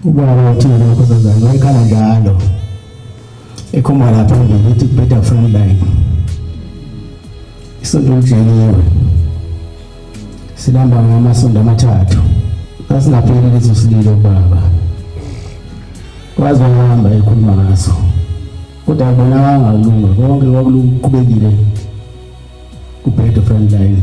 Ubaba uthini lokho sazana wayekhala njalo. Ekhomba lapha ngithi better friend line. Isonto lijeliwe. Silamba ngamasonto amathathu. Sasingapheli leso sililo baba. Waze wahamba ekhuluma ngaso. Kodwa bona wangalunga konke kwakulungile kubhedo friend line.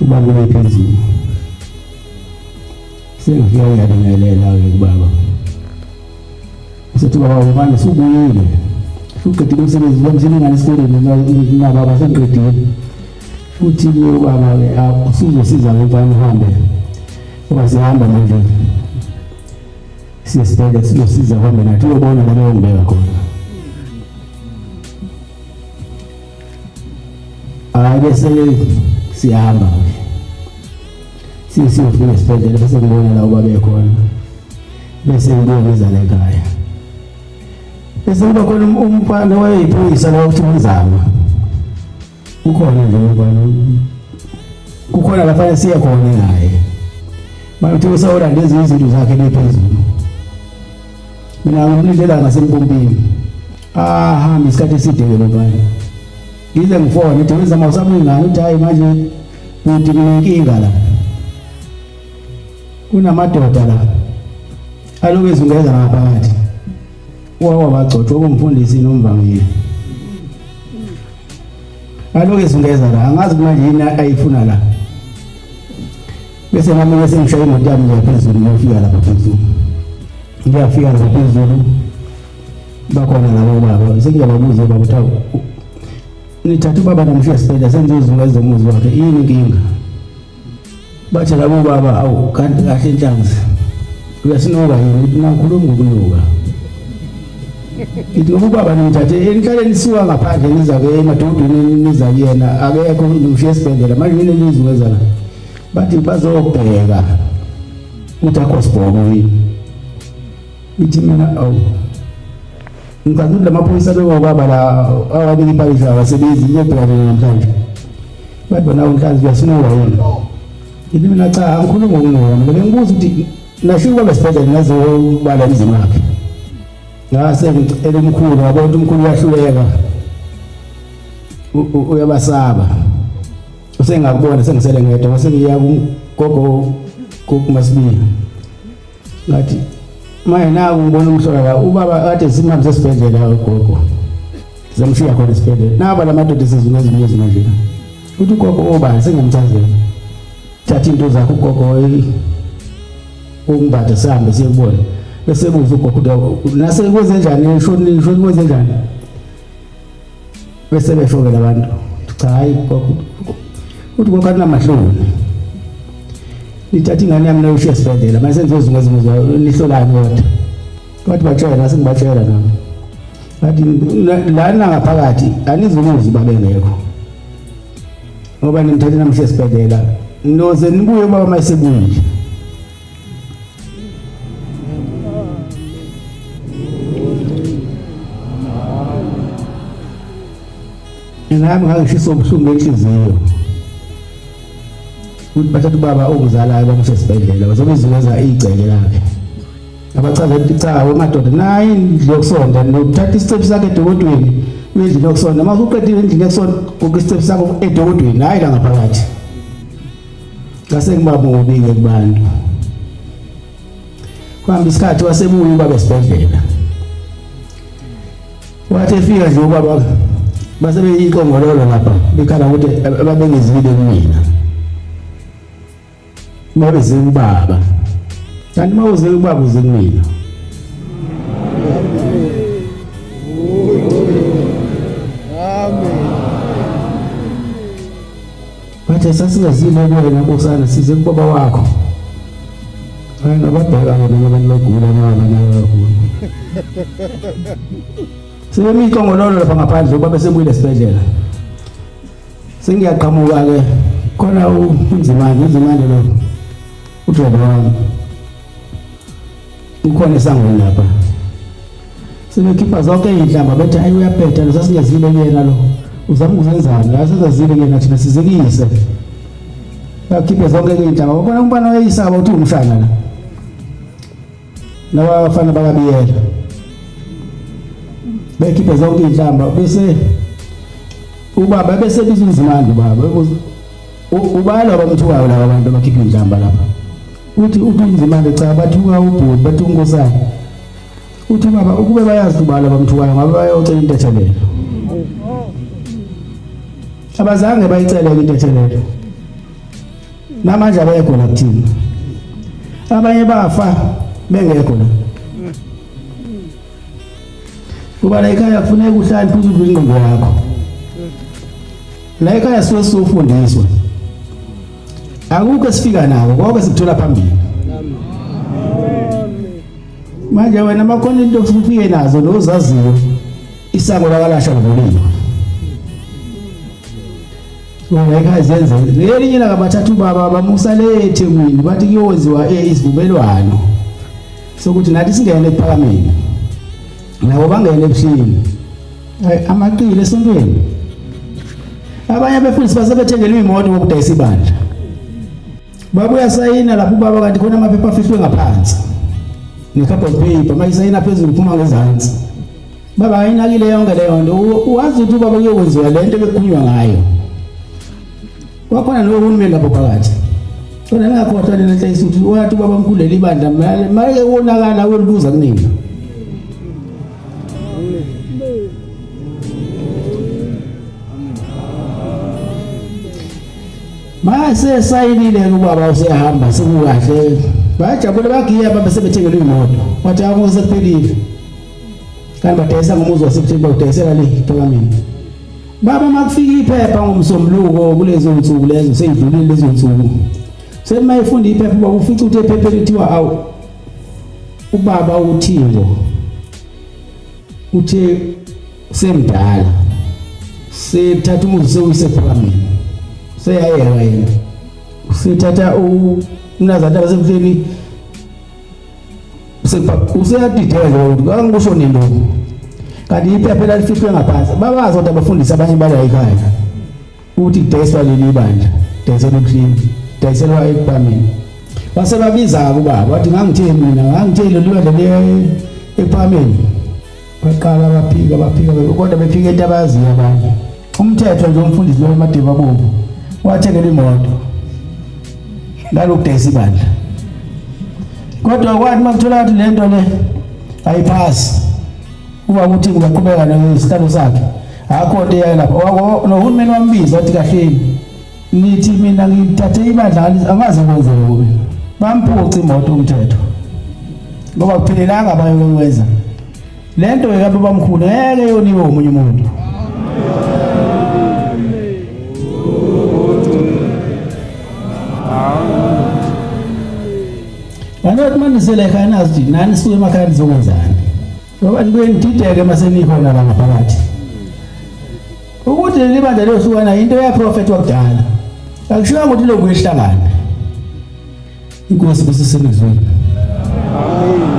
Uma kuye phezulu. Sengifika uyabingelela ke kubaba. Usethi baba ubani subuyile. Uqedile umsebenzi lo msini ngane sikoleni na baba sengiqedile. Uthi ke ubaba ke usuzosiza ke mfana uhambe. Uba sihamba manje. Siyesibhedlela sizosiza uhambe nathi uyobona la beyongibeka khona. Ake siyahamba siyofika esibhedlela bese ngibona la uba bekhona bese ngibuya ngizale ekhaya bese kuba khona um-, umfana wayeyiphoyisa la ukuthi umzama ukhona nje umfana kukhona laphana siye khona naye bayothi usawulanda ezinye izinto zakhe bephezulu mina ngimlindela ngasempompini ahambe isikhathi eside ke lobani ngize ngifone uthi wenza mawusabuyi ngani uthi hayi manje kuthi kunenkinga la kunamadoda la aloku ezungeza ngaphakathi wawa bagcotshwa kumfundisi nomvangeli aloku ezungeza la angazi kumanje yini ayifuna la bese nami ke sengishaya imoto yami nje phezulu ngiyofika lapha phezulu ngiyafika lapha phezulu bakhona labo baba sengiyababuza baba uthawu nithatha ubaba namshiya sibhedlela sengizozula ezomuzi wakhe yini inkinga bathi labo baba awu kanti kahle inhlanzi uyasinoka yini ithi nakhuluma ngokunuka ithi ngoba ubaba nimthathe enihlaleni nisiwa ngaphandle niza ke emadodeni niza kuyena akekho ngimshiya esibhedlela manje yini elizungezana bathi bazobheka ukuthi akho sibhono yini ithi mina awu ngicabanga ukuthi lamaphoyisa bekobaba la awabili ipakisho abasebenzi ngiyobhekana namhlanje bathi bona unhlanzi uyasinowa yini ithi mina cha angikhulumi ngokunowa mina bengibuza ukuthi nashike kwaba sibhedlela ngazobala emzini wakhe ngase ngicela umkhulu wabona umkhulu uyahluleka uyabasaba usengakubona sengisele ngedwa mase ngiya kugogo kumasibili ngathi manje naku ngibona umhlola la ubaba kade simhambe sesibhedlela ugogo zamshiya khona esibhedlela naba la madoda esizuma ezinye ezinye uthi ugogo obani sengamchazela thatha into zakho ugogo umbade sihambe siyekubona bese kuze ugogo nasekwenze njani eshonile eshonile kwenze njani bese befokela abantu cha hayi uthi konke anamahloni nithatha ingane yami nayoshiya esibhedlela mase nizozunga izimo zayo nihlolani kodwa bathi batshela nase ngibatshela nami bathi lana ngaphakathi anizumuzi babengekho ngoba nimthathe namshiya esibhedlela noze nibuye baba mayesebuyile nami ngangishisa ubuhlungu enhliziyo ukuthi bathatha ubaba ongizalayo bamuse esibhedlela bazobe iziveza igceke lakhe abachaza ukuthi cha wemadoda naye indlu yokusonda nokuthatha isicephu sakhe edokodweni indlu yokusonda uma usuqedile endlini yokusonda kuke isicephu sakho edokodweni hhayi la ngaphakathi Ngasengibabonile kubantu. Kwambi isikhathi wasebuya ubaba esibhedlela. Wathi efika nje ubaba base beyiqongololo lapha bekhala ukuthi ababengizile kumina. Babe zingubaba. Kanti mawuze ubaba uze kumina. Bathe sasingazile kuwena nkosana size kubaba wakho. Hayi ngabadala bona abantu bagula nabo nabo. Sebemi iqongololo lapha ngaphandle uba besebuyile esibedlela. Sengiyaqhamuka ke khona unzimani unzimani lo. Udlela wami. Ukhona esangweni lapha. Sebekhipha zonke izinhlamba bethi ayi uyabheda losasingezile kuyena lo. Uzama ukuzenzani? La sezazile kuyena thina sizikise. Bakhiphe zonke izinhlamba. Ubona umbana wayisaba uthi umshana la. Laba bafana bakabiyela. Bekhiphe zonke izinhlamba bese ubaba bese bizunzimandla ubaba. Ubalo abamthukayo laba bantu abakhipha izinhlamba lapha. uthi ubinzimande cha bathuka ubhuti bathi unkosana uthi baba ukube bayazi ubala bamthukayo ngabe bayocela intethelelo abazange bayicele intethelelo namanje abekho la kuthina abanye bafa bengekho la kuba la ekhaya kufuneka uhlale phezu kwingqondo yakho la ekhaya siwe sofundiswa akukho esifika nako konke sikuthola phambili manje wena makhona into ofike nazo nozaziyo isango lakalasha ngolima ungekha zenze ngelinye laka bathathu baba bamusa le eThekwini bathi kuyowenziwa isivumelwano sokuthi nathi singene ephakameni nabo bangene ebuhlini eh, amaqili esontweni abanye abefundisi basebethengela imoto ngokudayisa ibandla babuya sayina lapho ubaba kanti khona amaphepha afihlwe ngaphansi ne-carbon paper uma isayina phezulu phuma ngezansi baba ayinakile yonke leyo nto wazi ukuthi ubaba kuyokwenziwa le nto bekukhulunywa ngayo Kwakhona lowo hulumeni lapho phakathi. Kodwa ningakhohlwa nina nhleyisi ukuthi wathi ubaba mkhulu leli bandla mayeke wonakala uyolibuza kunina. Mase sayinile ubaba usehamba sekukahle. Bajabule bagiya baba sebethengele imoto. Wathi akuze kuphelile. Kanti badayisa ngomuzi wasebuthini bawudayisela le phakamini. Baba makufika iphepha ngomsombuluko kulezo nsuku lezo seyidlulile lezo nsuku. Sekuma ifunda iphepha baba ufica ukuthi iphepha lithiwa awu ubaba uthingo uthe semdala sethatha umuzi sewuyise phambi seyayeka yena sethatha umnazana basemhleni useyadideka ukuthi kangikusho nini lokhu kanti iphepha phela lifihlwe ngaphansi babazi kodwa abafundisi abanye bala ekhaya ukuthi kudayiswa leli bandla dayiselwa ubuhlini dayiselwa ekubameni base babiza-ke ubaba wathi ngangitheni mina ngangitheni leli bandla ekuphameni baqala baphika baphika kodwa befika into abayaziyo abanye umthetho nje umfundisi lowo madiba bomvu wathengela imoto ngalokudayisa ibandla kodwa kwathi makuthola ukuthi le nto le ayiphasi uba ukuthi ngizaqhubeka nesitalo sakhe akho nto eyayo lapho nohulumeni wambiza wathi kahleni Ngithi mina ngithathe ibadlali angaze kwenzeke kubi. Bamphuca imoto umthetho. Ngoba kuphelelanga abayokwenza. Lento ke babamkhulu ngeke yoniwe umunye umuntu. Angathi manisele ekhaya nazi nani suke emakhaya nizokwenzani. Ngoba nibuye nidideke masenifa nala ngaphakathi. Ukuthi leli bandla liyohlukana into yaprofetwa kudala. Akushiwa ukuthi lokhu ihlangana. Inkosi kusisemizweni. Amen.